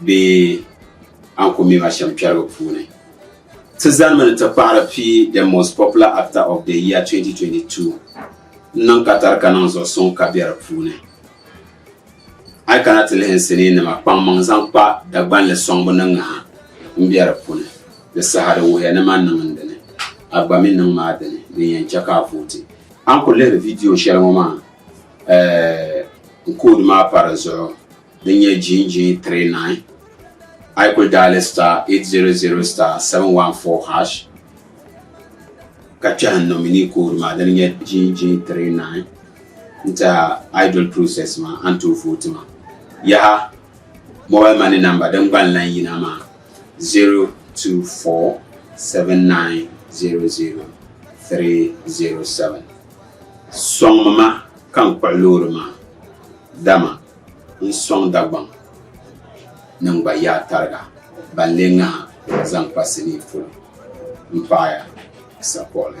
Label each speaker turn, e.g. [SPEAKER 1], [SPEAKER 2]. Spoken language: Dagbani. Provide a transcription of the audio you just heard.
[SPEAKER 1] bee Ankomiya ashɛmkpɛrigu puuni. Ti zanimi ni ti kpahiri pii The Most Popular Actor of the Year 2022 n-niŋ Qatar ka niŋ zuɣu suŋ ka be di puuni. A yi kana ti lihi n sinii nima kpaŋmaŋ zaŋ kpa Dagbanli sɔŋbu ni ŋaha m be di puni, di saha di wuhiya ni ma niŋ n dini, a gba mi niŋ ma a dini, din yɛn chɛ ka a vooti. A ni ku lihiri vidiyo shɛli ŋɔ maa, eh, n koodi maa pa di zuɣu. din nyɛ Jinjin 39 a yi kuli daali star 800 star 714 hash ka kpɛhi n nomini code maa din nyɛ Jinjin 39 n tiɛha idol process maa a ni tooi vooti maa yaha mobile money number din gba n lan yina maa 024 7900 307 soŋmi ma ka n kpuɣi loori maa dama N sɔŋ Dagbaŋ nim gba yaa tariga ban lee ŋaha zaŋ kpa sinii polo m-paɣi ya, Sakoɣili.